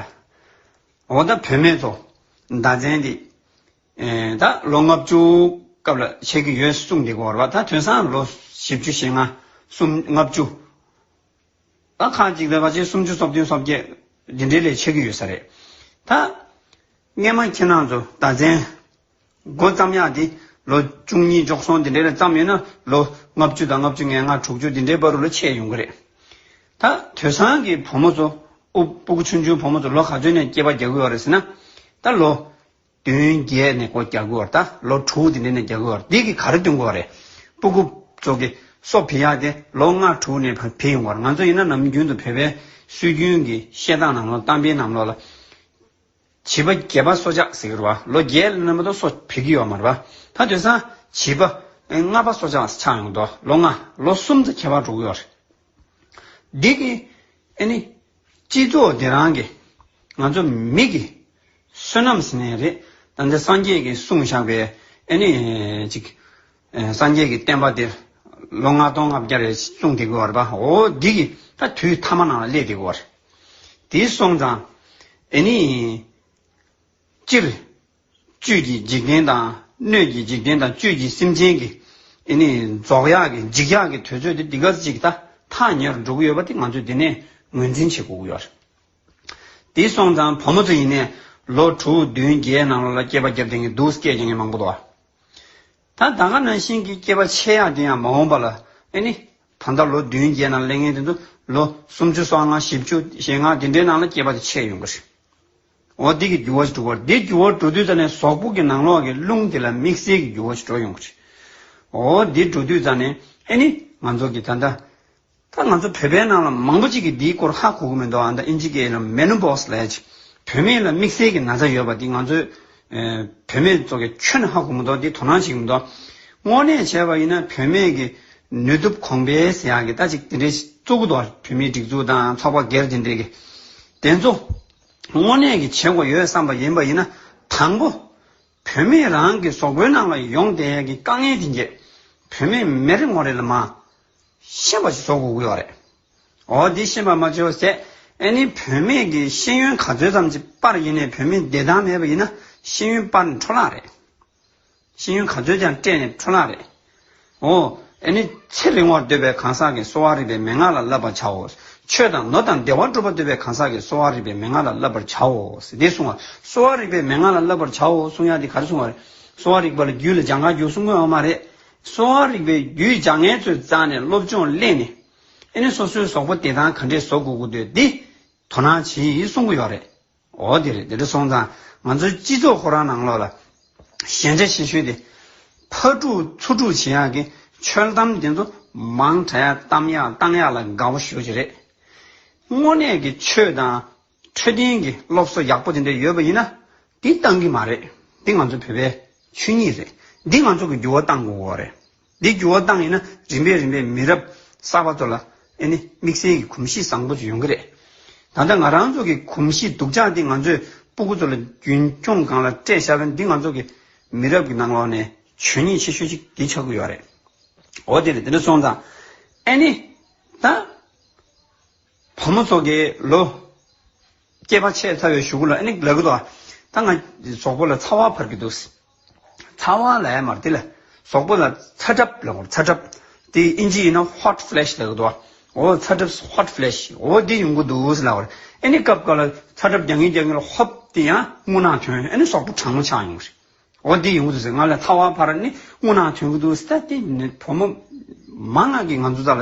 འོ་ད་བུད་མེད་ཚོ་ཟླ་མཚན་འདི། ད་ལོ་ལྔ་བཅུ་སྐབས་ལ་ཆད་ཀྱི་ཡོད་གསུངས་འདི་གོ་རེ་བ་ད་དོན་སང་ལོ་བཞི་བཅུ་ཞེ་ལྔ་གསུམ་ལྔ་བཅུ། ད་ཁ་ཅིག་ལས་ཀ་ཆེ་སུམ་ཅུ་སོ་བདུན་སོ་བརྒྱད་འདི་འདྲའི་ལས་བྱེད་ཀྱི་ཡོད་ས་རེད། ད། རྔན་མ་ཁྱེད་རྣམས་ཚོ་ད་མཚན། མགོ་བརྩམས་ཡག་འདི་ལོ་བཅུ་གཉིས་འཇོག་སོང་འདི་འདྲའི་རེད་བརྩམས་ཡོད་ན་ལོ་ལྔ་བཅུ་དང་ལྔ་བཅུ་ལྔས་ལྔ་དྲུག་ཅུ་འདི་འདྲའི་པར་རུ་ལ་ཆས་ཡོང་གི་རེད། ད་དོལ་སང་གི་བུ་མོ་ཚོ་དབུ་སྤུ་གུ་ཆུང་ཆུང་བུ་མོ་ཚོ་ལོ་ག་ཚོད་ནས་སྐྱེས་པ་རྒྱག་གི་ཡོད་རེད་ཟེར་ན། ད་ལོ། བདུན་བརྒྱད་ནས་སྒོ་རྒྱག་དགོས་བར་དང་ལོ་དྲུག་དེ་ནས་ནས་རྒྱག་དགོས་བར་དེ་གི་ག་རེ་སྟོན་དགོས་བ་རེད། པུ་གུ། ཙོ་གི། སོགས་བེད་ཡག་དེ་ལོ་ལྔ་དྲུག་ནས་བར་བེད་ཡོང་བར་ང་ཚོ་ཡིན་ན་ནམ་རྒྱུན་དུ་བོད་པའི་སྲོལ་རྒྱུན་གི་བཤད་སྟངས་རྣམས་ལོ་གཏམ་དཔེ་རྣམས་ལོ་ལ། བྱིས་པ་བརྒྱད་པ་སོ་ཆགས་ཟེར་གི་རུ་བ་ལོ་བརྒྱད་ལ་ནས་མ་གཏོགས་སོ་བེད་ཀི་ཡོག་མ་རུ་བ་ད་དོན་སང་བྱིས་པ། ལྔ་པ་སོ་ཆགས་ཆགས་ཡོང་གི་འདུག་ལོ་ལྔ་ལོ་གསུམ་ཙ་ཁྱད་པར་འགྲོ་གི་ཡོག་རེད། འདི་གིས་ཨེ་ནི། སྤྱི་ཚོགས་འདི་རང་གི། ང་ཚོ་མིག་གི། བསོད་ནམས་ཟིན་ནས་རེད། ད་འདི་སངས་རྒྱས་ཀྱི་གསུང་བཞག་པའི། ཨེ་ནི། ཅིག། སངས་རྒྱས་ཀྱི་བསྟན་པ་འདི། ལོ་ལྔ་སྟོང་ལྔ་བརྒྱ་རེ་གསུངས་བསྡད་དགོས་བར་པ། འོ་འདི་གི་ད་དུས་མཐའ་མ་ནང་ལ་སླེབས་བསྡད་དགོས་བར། དེ་སོང་ཙང། ཨེ་ནི། སྤྱིར། བཅུད་ཀྱི་འཇིག་རྟེན་དང་སྣོད་ཀྱི་འཇིག་རྟེན་དང་བཅུད་ཀྱི་སེམས་ཅན་གྱི། ཨེ་ནི། རྫོགས་ཡག་གི་འཇིག་ཡག་གི་དུས་ཚོད་དེ་འདི་ག་ཅིག་ད་ཐག་ཉེ་རུ་འགྲོ་གི་ཡོད་པ་དེ་ང་ཚོས་དེ་ནས་ངོས་འཛིན་བྱེད་དགོས་ཀྱི་ཡོད་རེད། དེ་སོང་ཙང་བུ་མོ་ཚོ་ཡིན་ནའི་ལོ་དྲུག་བདུན་བརྒྱའི་ནང་ལོ་ལ་སྐྱེས་པ་བརྒྱབ་དེ་ངས་སྡུག་སྐད་ཀྱང་ངས་མང་པོ་དོགས། ད་ད་ག་ནང་བཞིན་གྱི་སྐྱེས་པ་ཆེ་ཡག་དེ་ཡང་མ་འོངས་པ་ལ་ཨེ་ནི། ད་ལྟ་ལོ་བདུན་བརྒྱའི་ནང་གླེང་ངན་དེ་ཚོ་ལོ་སུམ་ཅུ་སོ་ལྔ་བཞི་བཅུ་ཞེ་ལྔ་དེ་འདྲའི་ནང་ལ་སྐྱེས་པ་དེ་ཆེ་ཡོང་གི་རེད། འོ་དེ་གི་རྒྱུ་བ་ཅི་འགྲོ་བར་དེ་རྒྱུ་བ་འགྲོ་དུས་རྩ་ནས་ཟོག་པོ་གི་ནང་ལོགས་ཀྱི་རླུང་དེ་ལ་དམིགས་བསལ་གྱི་རྒྱུ་བ་ཅི་འགྲོ་ཡོང་བ་རེད། འོ་དེ་འགྲོ་དུས་རྩ་ནས་ཨེ་ནི་ང་ཚོ་གི་ད་ལྟ། ད་ང་ཚོ་བོད་པའི་ནང་ལ་མང་པོ་ཅིག་གི་དེའི་སྐོར་ཧ་གོ་གི་མི་འདུག་ཨ་མདའ་ཨིན་ཇི་ཀའི་ལ Menopause ལ་ཡ་ཅིག་བུད་མེད་ལ་དམིགས་བསལ་གྱི་ན་ཚ་ཡོད་པ་དེ་ང་ཚོའི། བུད་མེད་ཚོ་གི་ཆོས་ནས་ཧ་གོ་མི་འདུག་དེ་དོ་སྣང་བྱེད་ཀྱི་མི་འདུག། དངོས་གནས་བྱས་པ་ཡིན་ན་བུད་མེད་ཀྱི་ནུས་སྟོབས་གོང་འཕེལ་ཟེར་ཡག་གི་ད་ཅིག་དེ་འདྲའི་གཙོ་གུ་འདུག་བུད་མེད་སྒྲིག་འཛུགས་དང་ཚོགས་པ་སྒེར་དེ་འདྲའི་གི། དེ་ཚོ། དངོས་གནས་ཀྱི་བྱེད་སྒོ་ཡོད་བསམ་པ་ཡིན་པ་ཡིན་ན་དང་པོ། བུད་མེད་རང་གི་ཟོག་པོའི་ནང་ལ་ཡོང་བསྡད་ཡས་ཀྱི་དཀའ་ངལ་དེ་འགྱེད། བུད་མེད་མི་རེ་ངོ་རེ་ལ་མ། ཤེས་པ་ཞིག་བཟོ་དགོས་ཀྱི་ཡོད་རེད། འོ་འདི་ཤེས་པ་མ་བྱོས་ཟད། ཨེ་ནི་བུད་མེད་ཀྱི་ཤེས་ཡོན་ག་ཚོད་ཙམ་གྱི་པར་ཡིན་ནས་བུད་མེད་བདེ་ཐང་མེད་པ་ཡིན་ན་ཤེས་ཡོན་པར་འཕྲོ་བརླག་རེད། ཤེས་ཡོན་ག་ཚོད་ཀྱང་སྤྲད་ནས་འཕྲོ་བརླག་རེད། ཨོ། ཨེ་ནི། ཚེ་རིང་བར་འདོད་པའི་གང་ཟག་གིས་གསོ་བ་རིག་པའི་མན་ངག་ལ་བསླབ་པར་བྱའོ། ཆོས་དང་ནོར་དང་བདེ་བ་སྒྲུབ་པར་འདོད་པའི་གང་ཟག་གིས་གསོ་བ་རིག་པའི་མན་ངག་ལ་བསླབ་པར་བྱའོ། དེ་གསུང་བ། གསོ་བ་རིག་པའི་མན་ངག་ལ་བསླབ་པར་བྱའོ་གསུང་ཡ་དེ་ག་རེ་གསུང་བ་རེད། གསོ་བ་རིག་པ་ལ་རྒྱུད་ལ་སྦྱང་གང་རྒྱུགས་གསུང་དགོས་ཨ་མ་རེད། གསོ་བ་རིག་པའི་རྒྱུད་སྦྱང་ངལ་ཚོད་བཙགས་ནས་སློབ་སྦྱོང་གླེང་ནས། ཨེ་ནི་སོ་སོའི་ཟོག་པོ་དེ་དང་ག་འདྲས་བཟོ་དགོས་དགོས་འདོད་དེ། དོ་སྣང་བྱེད་གསུང་གི་ཡོད་རེད། འོ་དེ་རེད་དེ་འདྲ་སོང་ཙང་ང་ཚོའི་སྤྱི་ཚོགས་ཁོ་རང་ནང་ལོགས་ལ་ཞན་ཆ་ཤེས་ཤོས་དེ། ཕར་དཀྲུག་ཚུར་དཀྲུག་བྱེད་ཡག་གི་འཆོལ་གཏམ་དེ་ཚོ་མང་དྲགས་ཡག་གཏམ་ཡག་བཏང་ཡག་ལ་དགའ་བོ་ཞུ་བྱེད་རེད། དངོས་གནས་ཀྱི་ཆོས་དང་འཕྲོད་བསྟེན་གྱི་སློབ་གསོ་ཡག་པོ་དེ་འདྲ་ཡོད་པ་ཡིན་ན་དེ་བཏང་གི་མ་རེད་དེ་ང་ཚོ་བོད་པའི་ཆོས་ཉིད་རེད་འདི་ང་ཚོ་གི་འགྱུར་བ་བཏང་དགོས་རེད། འདི་འགྱུར་བ་བཏང་ཡིན་ན་རིམ་པས་རིམ་པས་མི་རབས་གསར་པ་ཚོ་ལ་ཨེ་ནི་དམིགས་བསལ་གྱི་གོམས་གཤིས་བཟང་པོ་ཅིག་ཡོང་གི་རེད། ད་ལྟ་ང་རང་ཚོ་གི་གོམས་གཤིས་སྡུག་ཅག་འདི་ང་ཚོས་སྤུ་གུ་ཚོ་ལ་རྒྱུན་འཁྱོངས་སྒང་ལ་སྤྲད་ཤར་བས་འདི་ང་ཚོ་གི་མི་རབས་ཀྱི་ནང་ལོགས་ནས་ཆོས་ཉིད་ཆེ་ཤོས་ཅིག་འདི་ཆགས་ཀྱི་ཡོད་རེད། འོ་དེ་ལས་འདི་འདྲ་སོང་ཙང་ཨེ་ནི་ད། བུ་མོ་ཚོ་དགེ་ལོ། སྐྱེས་པ་ཆེས་ཚ་བའི་ཞུ་གུ་ལ་ཨེ་ནི་ལ་གུ་དོ། ད་ང་ཟོག་པོ་ལ་ཚ་བ་བར་གི་འདུག། ཚ་བ་ལ་ཨེ་མར་དེ་ལ། ཟོག་པོ་ལ་ཚ་གྲབས་ལ་གུ་རོ་ཚ་གྲབས། དེ་ཨིན་ཇི་ཡིན་ན hot flash ལ་གུ་དོ། འོ་ཚ་གྲབས hot flash འོ་དེ་ཡོང་གི་འདུག་ལ་གུ་རེ། ཨེ་ནི་སྐབས་འགའ་ལ་ཚ་གྲབས་རྒྱག་ངེས་རྒྱག་ངེས་ལ་ཧོབ་དེ་ཡང་སྔུ་ནག་ཐོན་ཨེ་ནི་ཟོག་པོ་གྲང་མོ་ཆགས་ཡོང་གི་རེད། འོ་དེ་ཡོང་གི་འདུག་ཟེར་ང་ལ་ཚ་བ་བར་ནི་སྔུ་ནག་ཐོན་གི་འདུག་ཟེར་ད་དེ་ནི་བུ་མོ། མ་ང་གིས་ང་ཚོ་ཚ་ལ་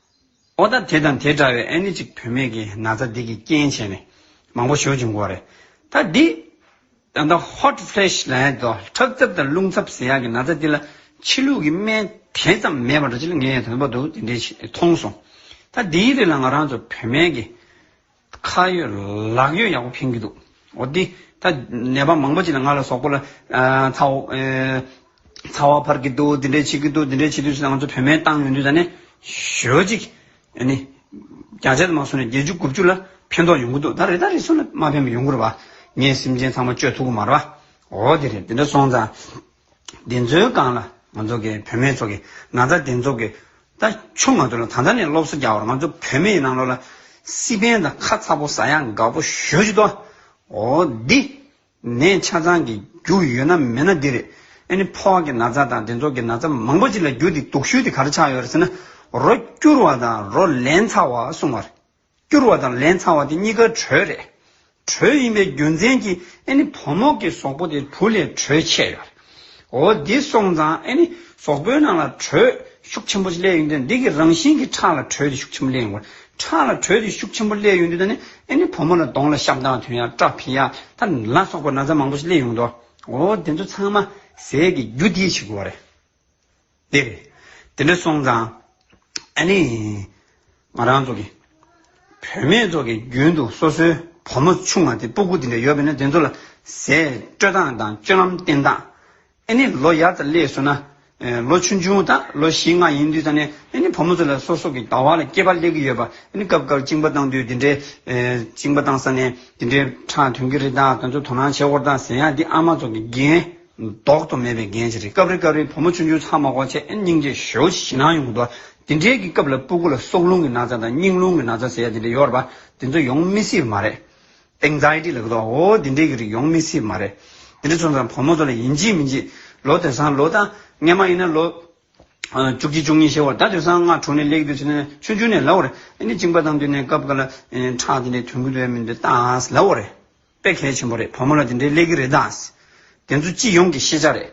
ཨོ་ད་དེ་དང་དེ་འདྲ་བའི་ཨ་ནི་ཅིག་བུད་མེད་ཀྱི་ན་ཚ་འདི་གི་རྐྱེན་བྱས་ནས་མང་པོ་ཞོ་བྱུང་གོ་རེད་ད་འདི། ད་ད hot flash ལ་ཡ་དོ་ཁྲག་ཚབ་དང་རླུང་ཚབ་ཟེར་ཡག་གི་ན་ཚ་འདི་ལ་ཕྱི་ལུགས་ཀྱི་སྨན་དེ་ཙམ་མེད་པ་འདྲ་ཅི་ལ་ངས་དོན་པོ་འདུག་དེ་འདྲའི་མཐོང་སོང་ད་འདིའི་རིགས་ལ་ང་རང་ཚོ་བུད་མེད་ཀྱི་ཁ་ཡོད་ལག་ཡོད་ཡག་པོ་ཕན་གྱི་འདུག་འོ་དེ་ད་ནད་པ་མང་པོ་ཅིག་ལ་ང་ལ་སོགས་པོ་ལ་ཚ་བ་ཚ་བ་འཕར་གྱི་འདུག་དེ་འདྲས་བྱེད་ཀྱི་འདུག་དེ་འདྲས་བྱེད་དུས་ད་ང་ཚོ་བོད་མའི་ཏང་ཡོན་དུས་ད་ནས་ཞོལ་ཅིག་ཨ་ནི་བརྒྱ་ཆ་དུ་མ་སོང་ནས་བརྒྱད་ཅུ་དགུ་བཅུ་ལ་ཕན་ཐོག་ཡོང་གི་འདུག་ད་རེ་ད་རེ་སོང་ནས་མ་ཕན་པ་ཡོང་གི་རེད་པ་ངས་སེམས་ཅན་ཚང་མ་བཅོས་ཐུབ་གི་མ་རེད་པ་འོ་དེ་རེད་དེ་འདྲ་སོང་ཙང། འདི་ཚོའི་སྒང་ལ་ང་ཚོ་གི་བུད་མེད་ཚོ་གི་ན་ཚ་འདི་ཚོ་གི་ད་ཆུང་མ་དུ་ལ་ད་ལྟ་ནས་སློབ་གསོ་རྒྱག་བར་ང་ཚོ་བུད་མེད་ནང་ལོག་ལ་སི་པན་དང་ཁ་ཚ་པོ་ཟ་ཡག་འགའ་པོ་ཞོ་ཅིག་ཏོ། འོ་འདི་ནས་ཆ་ཚང་གི་རྒྱུ་ཡོད་ན་མེད་ན་འདི་རེད། ཨ་ནི་ཕོ་བ་གི་ན་ཚ་དང་འདི་ཚོ་གི་ན་ཚ་མང་པོ་ཅིག་ལ་རྒྱུ་དེ་དུག་ཤུལ་དེ་ག་རེ་ཆགས་ཡོད་རེད་ཟེར་ན་རོ་སྐྱུར་བ་དང་རོ་ལན་ཚ་བ་གསུང་བ་རེད། བསྐྱུར་བ་དང་ལན་ཚང་བ་དེ་གཉིས་ཀ་གྲོས་རེད། གྲོས་ཡིན་པའི་རྒྱུ་མཚན་གྱིས་ཨེ་ནི་བུ་མོ་གི་ཟོག་པོ་དེ་བུ་ལས་གྲོས་ཆེ་ཡོད། འོ་འདི་སོང་ཙང་ཨེ་ནི་ཟོག་པོའི་ནང་ལ་གྲོས་ཤུགས་ཆེན་པོ་ཞིག་སླེབས་ཡོང་དུས་འདི་གི་རང་བཞིན་གྱི་ཁྲག་ལ་གྲོས་དེ་ཤུགས་ཆེན་པོ་སླེབས་ཡོང་དགོས། ཁྲག་ལ་གྲོས་དེ་ཤུགས་ཆེན་པོ་སླེབས་ཡོང་དུས་ད་ནི་ཨེ་ནི་བུ་མོ་ལ་གདོང་ལ་ཤམ་སྟངས་དུས་ཡང་སྐྲ་ཕིང་ཡ་ད་ལ་སོག་པོ་ན་ཚ་མང་པོ་ཞིག་སླེབས་ཡོང་དོ། འོ་དེ་ཚོ་ཚང་མ་ཟས་ཀྱི་རྒྱུ་དེས་བྱེད་དགོས་པ་རེད། དེ་རེད། དེ་འདྲ་སོང་ཙང། ཨ་ནི། ང་རང་ཚོ་གི། བུད་མེད་ཚོ་གི་རྒྱུན་དུ་སོ་སོའི་བུ་མོ་ཆུང་བ་དེ་སྤུ་གུ་དེ་འདྲ་ཡོད་པས་ན་དེ་ཚོ་ལ། ཟས་སྤྲོད་སྟངས་དང་སྤྱོད་ལམ་བསྟེན་སྟངས། ཨ་ནི་ལོ་ཡར་ཙམ་སླེབས་སོང་ན། ལོ་ཆུང་ཆུང་དང་ལོ་བཞི་ལྔ་ཡིན་དུས་ཙམ་ནས་ཨ་ནི་བུ་མོ་ཚོ་ལ་སོ་སོ་གི་ལྟ་བ་ལ་སྐྱེས་པ་སླེབས་ཀྱི་ཡོད་པ་ཨ་ནི་སྐབས་སྐབས་བཅིང་པ་བཏང་དུས་དེ་འདྲའི། བཅིང་པ་བཏང་ས་ནས་དེ་འདྲའི་ཁྲག་དོན་གྱི་རིགས་དང་དེ་ཚོ་དོ་སྣང་བྱེད་དགོས་རྟགས་ཟེར་ཡང་འདི་ཨ་མ་ཚོ་གི་འགན། ལྡོག་ཏུ་མེད་པའི་རྒྱན་ཅི་རིགས་སྐབས་རེ་སྐབས་རེ་བུ་མོ་ཆུང་ཆུང་ཚང་མ་སྒོ་ཕྱེས་ཨེ་སྙིང་རྗེ་ཞོ་ཞེས་ཞེད་སྣང་ཡོང་དུ་འདི་འདྲའི་གི་སྐབས་ལ་སྤུ་གུ་ལ་སྲོག་རླུང་གི་ན་ཚ་དང་སྙིང་རླུང་གི་ན་ཚ་ཟེར་ཡ་འདི་འདྲ་ཡོར་བ་འདི་ཚོ་ཡོང་མི་སྲིད་མ་རེད། Anxiety ལ་གི་དོགས་འོ་འདི་འདྲའི་གི་རིགས་ཡོང་མི་སྲིད་མ་རེད། འདི་འདྲ་ཚོ་ཚང་བུ་མོ་ཚོ་ལ་ཡིན་གཅིག་མིན་གཅིག་ལོ་དེ་སང་ལོ་ད་སྔས་མ་ཡིན་ན་ལོ། བཅུ་གཅིག་བཅུ་གཉིས་ཞེས་བར་ད་དེ་སང་སྔ་དྲོ་ནས་ལེགས་འདོད་ཆེ་ན་ཆུང་ཆུང་ནས་ལ་བོ་རེད་ཨེ་ནི་བཅིངས་པ་དང་བསྟུན་ནས་སྐབས་འགའ་ལ་ཁྲག་འདི་འདྲའི་དོན་གུ་དོན་མིན་འདི་ལྟ་ཨ་ལ་བོ་རེད། དཔེ་གལ་ཆེན་པོ་རེད་བུ་མོ་ལ་དེ་འདྲའི་ཀླད་ཀི་རེད་དཱ། དེ་ཚོ་སྤྱི་ཡོངས་ཀྱི་ཤེས་བྱ་རེད།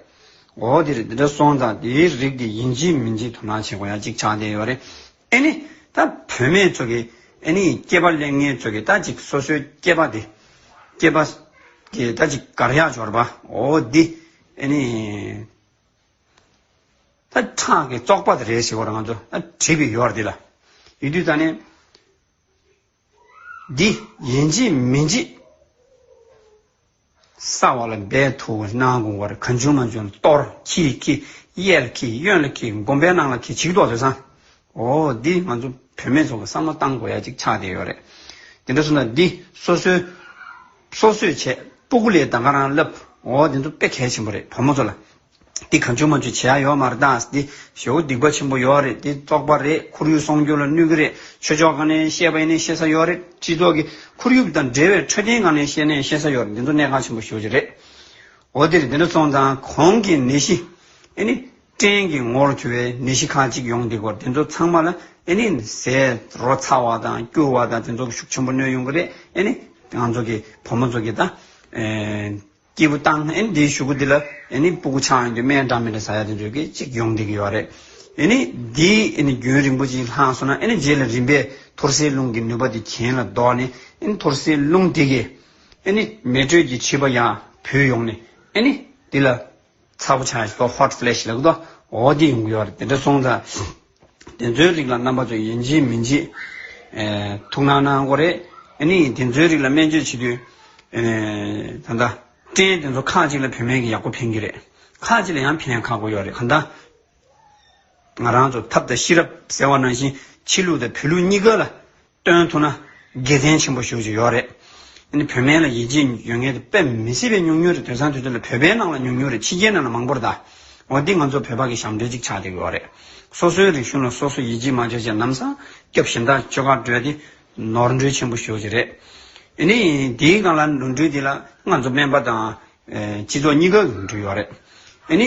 འོ་དེ་རེད་དེ་འདྲ་སོང་ཙང་དེའི་རིགས་དེ་ཡིན་གཅིག་མིན་གཅིག་དོ་སྣང་བྱེད་དགོས་ཡ་གཅིག་ཆགས་བསྡད་ཡོད་རེད། ཨེ་ནི། ད་བུད་མེད་ཚོ་གི། ཨེ་ནི། སྐྱེས་པ་ལས་ངན་ཚོ་གི་ད་ཅིག་སོ་སོའི་སྐྱེས་པ་དེ། སྐྱེས་པ། གི་ད་ཅིག་དགར་ཡག་འབྱོར་པ། འོ་འདི། ཨེ་ནི། ད་ཁྲག་གི་བཙོག་པ་དེ་རེད་ཟེར་བ་རང་ཚོ་ད་བྲིས་པའི་ཡོར་འདི་ལ། ཡུལ་དུས་ད་ནི། འདི་ཡིན་གྱི་མིན་གྱི། ས་བ་ལ་འབད་དུ་སྣང་དགོངས་བར་གང་བྱུང་མ་བྱུང་གཏོར་གྱིས་ཀྱིས་གཡལ་གྱིས་གཡོན་ལ་གྱིས་སྒོམ་པའི་སྣང་ལ་གྱིས་བྱིག་ཏོག་ཟོས་སམ། འོ་འདི་ང་ཚོ་བུད་མེད་ཚོ་ལ་བསམ་བློ་བཏང་དགོས་ཡ་གཅིག་ཆགས་བསྡད་ཡོད་རེད། དེ་འདྲ་སོང་ད་འདི་སོ་སོའི་སོ་སོས་བྱས་སྤུ་གུ་ལས་ད་ག་རང་བསླབ་འོ་འདི་ཚོ་དཔེ་གལ་ཆེན་པོ་རེད་བུ་མོ་ཚོ་ལ། འདི་གང་བྱོས་མ་བྱོས་བྱེད་ཡག་ཡོད་མ་རེད་ད་འདི་ཞོ་སྡིག་པ་ཆེན་པོ་ཡོད་རེད་འདི་བཙོག་པ་རེད་ཁོར་ཡུག་སྲོང་སྐྱོབ་ལ་གནོད་གི་རེད་ཆོས་ཕྱོགས་གང་ནས་བཤད་པ་ཡིན་ནའི་ཤེས་ས་ཡོད་རེད་སྤྱི་ཚོགས་ཀྱི་ཁོར་ཡུག་དང་འབྲེལ་བའི་འཕྲོད་བསྟེན་གང་ནས་བཤད་ནའི་ཤེས་ས་ཡོད་རེད་འདི་ཚོ་གནད་འགག་ཆེན་པོ་ཤོས་ཀྱི་རེད་འོ་འདིར་འདི་འདྲ་ཚོང་ཙང་གོང་གི་ནད་གཞི་ཨེ་ནི་སྐྲན་གྱི་ངོར་གྱུར་བའི་ནད་གཞི་ཁག་ཅིག་ཡོང་འདི་སྐོར་འདི་ཚོ་ཚང་མ་ལ་ཨེ་ནི་ཟས་རོ་ཚ་བ་དང་སྐྱུར་བ་དང་འདི་ཚོ་ཤུགས་ཆེན་པོ་གནོད་ཡོང་གི་རེད་ཨེ་ནི་ང་ཚོ་གི་བུ་མོ་ཚོ་གི་ད་སྐྱེས་བུ་དང་ཨེ་ནི་དེའི་ཞུ་གུ་འདི་ལ་ཨེ་ནི་སྤུ་གུ་ཆང་ཡོང་དུས་མན་འདྲ་མན་འདྲ་ཟ་ཡག་ཏུ་འཇོག་གི་ཅིག་ཡོང་བསྡད་ཀྱི་ཡོག་རེད། ཨེ་ནི་འདི་ཨེ་ནི་རྒྱུན་རིང་པོ་ཅིག་ལྷག་སོང་ན་ཨེ་ནི་རྗེས་ལ་རིམ་པས་ཐོར་སའི་རླུང་གི་ནུས་པ་དེ་གྱེན་ལ་ལྡོག་ནས་ཨེ་ནི་ཐོར་སའི་རླུང་དེ་གས་ཨེ་ནི་མེ་དྲོད་ཀྱི་བྱིས་པ་ཡང་བུད་ཡོང་ནས་ཨེ་ནི་དེ་ལ། ཚ་པོ་ཆགས་ཤིང hot flash ལེགས་ལྡོ་འོ་དེ་ཡོང་གི་ཡོད་རེད་དེ་འདྲ་སོང་ཙང་དེ་ཚོའི་རིགས་ལ་རྣམ་པ་ཚོ་ཡིན་གཅིག་མིན་གཅིག་ཐུག་སྣང་སྣང་གོ་རེད་ཨེ་ནི་དེ་ཚོའི་རིགས་ལ་སྨན་བཅོས་བྱེད་དུས་ད་ལྟ་སྐྲན་དེ་ཚོ་ཁག་གཅིག་ལ་བུད་མེད་ཀྱི་ཡག་པོ་ཕན་གྱི་རེད་ཁག་གཅིག་ལ་ཡང་ཕན་ཁག་པོ་ཡོད་རེད་གང་ལྟ་ང་རང་ཚོ་ཐབས་དང་ཤེས་རབ་ཟེར་བ་ནང་བཞིན་ཕྱི་ལུགས་དང་བོད་ལུགས་གཉིས་ཀ་ལ་སྟོན་ཐུབ་ན་དགེ་མཚན་ཆེན་པོ་ཞུ་བཞིན་ཡོད་རེད། འདི་ནི་བོད་སྨན་ལ་ཡིད་ཆེས་ཡོད་ངེས་རེད་དཔེ་མི་སྲིད་པའི་ཉུང་ཉུང་རེད་དོན་བཟང་དུས་ཚོད་ལ་བོད་པའི་ནང་ལ་ཉུང་ཉུང་རེད་ཕྱི་རྒྱལ་ནང་ལ་མང་པོ་རེད་ད། འོ་འདི་ང་ཚོ་བོད་པ་གི་ཞབས་འདྲེན་ཅིག་ཆགས་བསྡད་ཡོད་རེད། སོ་སོའི་རིག་གཞུང་ལ་སོ་སོ་ཡིད་ཆེས་མ་བྱས་བྱས་ནམ་སངས་རྒྱབ་ཞིང་དག་ཆོས་ཁ་བགྲོད་དེ། ནོར་འཁྲུལ་ཆེན་པོ་ཞུ་བཞིན་རེད། འོ་ནི་དེའི་སྒང་ལ་ནོར་འཁྲུལ་དེ་ལ་ང་ཚོ་སྨན་པ་དང། སྤྱི་ཚོགས་གཉིས་ཀ་གི་ནོར་འཁྲུལ་ཡོད་རེད། འོ་ནི།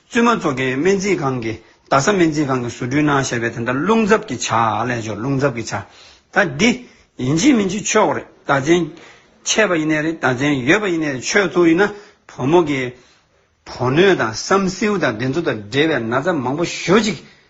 བཙུན་མ་མཚོ་ཁའི་སྨན་རྩིས་ཁང་གི་རྡ་ས་སྨན་རྩིས་ཁང་གི་ཟུར་སྦྲུལ་ནང་བཤད་པའི་དེ་ལྟར་རླུང་འཛབ་ཀྱི་ཆ་ལས་སྦྱོར་རླུང་འཛབ་ཀྱི་ཆ། ད་འདི། ཡིན་གཅིག་མིན་གཅིག་ཆོས་རེད་ད་བཙན། ཆད་པ་ཡིན་ནའི་རེད་ད་བཙན་ཡོད་པ་ཡིན་ནའི་རེད་ཆོས་ཚུགས་ཡིན་ན་བུ་མོ་གི། བུ་སྣོད་དང་བསམ་སེའུ་དང་དེ་ཚོ་དང་འབྲེལ་བའི་ན་ཚ་མང་པོ་ཞོ་གཅིག་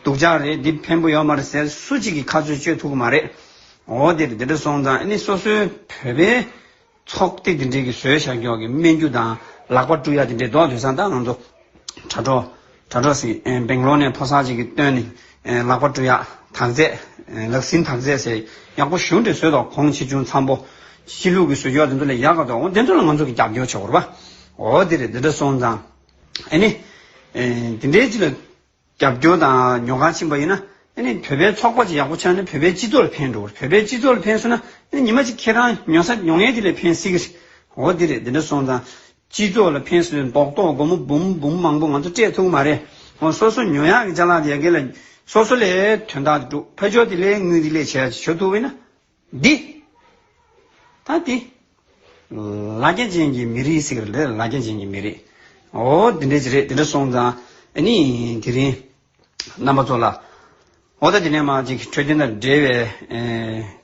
སྡུག་ཅག་རེད་འདི་ཕན་པོ་ཡོད་མ་རེད་ཟེར་སུ་གཅིག་གིས་ཁ་རྩོད་གཅོད་ཐུབ་གི་མ་རེད། འོ་དེ་དེ་འདྲ་སོང་ཙང་ཨ་ནི་སོ་སོའི་བོད་པའི་ཚོགས་སྡེ་དེ་འདྲས་ཀྱི་ཟོལ་ཞག་འགྱོགས་ཀྱི་སྨན་རྒྱུ་དང་ལག་པ་བཀྲུ་ཡ་དེ་འདྲས་བཟློག་དུས་སང་ད་ང་ཚོ་དྲ་གྲོགས་དྲ་གྲོགས་སི་སྦེང་ལོར་ནས་ཕོ་སར་གཅིག་གིས་བཏོན་ནས་ལག་པ་བཀྲུ་ཡ་དག་རྫས་ལག་ཟིན་དག་རྫས་ཟེར་ཡག་པོ་ཞུ་འདྲས་ཟོས་དོགས་གོང་ཆེ་ཆུང་འཚམ་པོ་སྤྱི་ལུགས་ཀྱི་ཟོལ་འགྱོགས་དེ་ཚོ་ལས་ཡག་ག་དོགས་འོ་དེ་ཚོ་ལ་ང་ཚོ་གི་རྒྱབ་སྐྱོར་བྱེད་དགོས་རེད་པ། འོ་དེ་རེད་དེ་འདྲ་སོང་ཙང་ཨ་ནི་དེ་འདྲས་གཅིག་ལ། རྒྱབ་སྐྱོར་དང་ཉོ་ཁང་ཕྱིན་པ་ཡིན་ན་ནི་བོད་པའི་ཚོགས་པ་ཅིག་ཡག་པོ་ཆགས་ནས་བོད་པའི་སྤྱི་ཚོགས་ལ་ཕན་འགྲོ་གི་རེད་བོད་པའི་སྤྱི་ཚོགས་ལ་ཕན་སོང་ན་ཉི་མ་གཅིག་ཁྱེད་རང་ཉོ་ས་ཉོ་ངེས་དེ་ལས་ཕན་སྲིད་ཀྱི་རེད་འོ་དེ་རེད་དེ་འདྲ་སོང་ཙང་སྤྱི་ཚོགས་ལ་ཕན་སོང་མདོག་མདོག་སྒོར་མོ་འབུམ་འབུམ་མང་པོ་ང་ཚོ་སྤྲད་ཐུབ་ཀྱི་མ་རེད་འོ་སོ་སོ་ཉོ་ཡག་གི་ཅག་ལག་དེ་ཡག་གི་ལ་སོ་སོ་ལས་དོན་དག་དེ་སྒྲུབ་ཕ་ཆོག་དེ་ལས་དངུལ་དེ་ལས་བྱས་ཡག་ཅིག་བྱོ་ཐུབ་ཡིན་ན། འདི། ད་འདི། ལ་རྒྱ་ཅན་གྱི་མི་རིགས་ཟེར་གི་ལ་རྒྱ་ཅན་གྱི་མི་རིགས། ཨོ་དེ་འདྲས་ཅི་རེད་དེ་འདྲ་སོང་ཙང་ཨ་ནི་དེ་རིང་རྣམ་པ་ཚོ་ལ། ཨོ་ད་དེ་ནས་མར་ཅིག་འཕྲོད་བསྟེན་དང་འབྲེལ་བའི་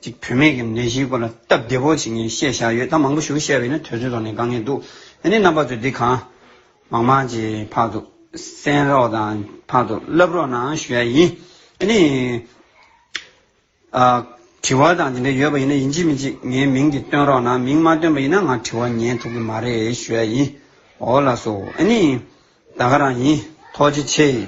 ཅིག་བུད་མེད་ཀྱི་ནད་གཞིའི་སྐོར་ལ་སྟབས་བདེ་བོ་ཅིག་ངས་བཤད་བཞག་ཡོད་ད་མང་པོ་ཞུ་བཤད་བས་ན་དོལ་ཚོའི་ཐོག་ནས་དགའ་ངེས་འདུག་ཨ་ནི་རྣམ་པ་ཚོས་འདི་གང། མང་མང་ཅིག་ཕར་དུ་གསན་རོགས་དང་ཕར་དུ་བསླབ་རོགས་ནའང་ཞུ་ཡ་ཡིན་ཨ་ནི། དྲི་བ་དང་དེ་འདྲ་ཡོད་པ་ཡིན་ན་ཡིན་གཅིག་མིན་གཅིག་ངའི་མིང་དེ་སྟོན་རོགས་གནང་མིང་མ་སྟོན་པ་ཡིན་ན་ང་དྲི་བ་ཉན་ཐུབ་གི་མ་རེད་ཞུ་ཡ་ཡིན། འོ་ལགས་སོ་ཨ་ནི། ད་ག་རང་ཡིན་ཐོག་ཅི་ཆེ།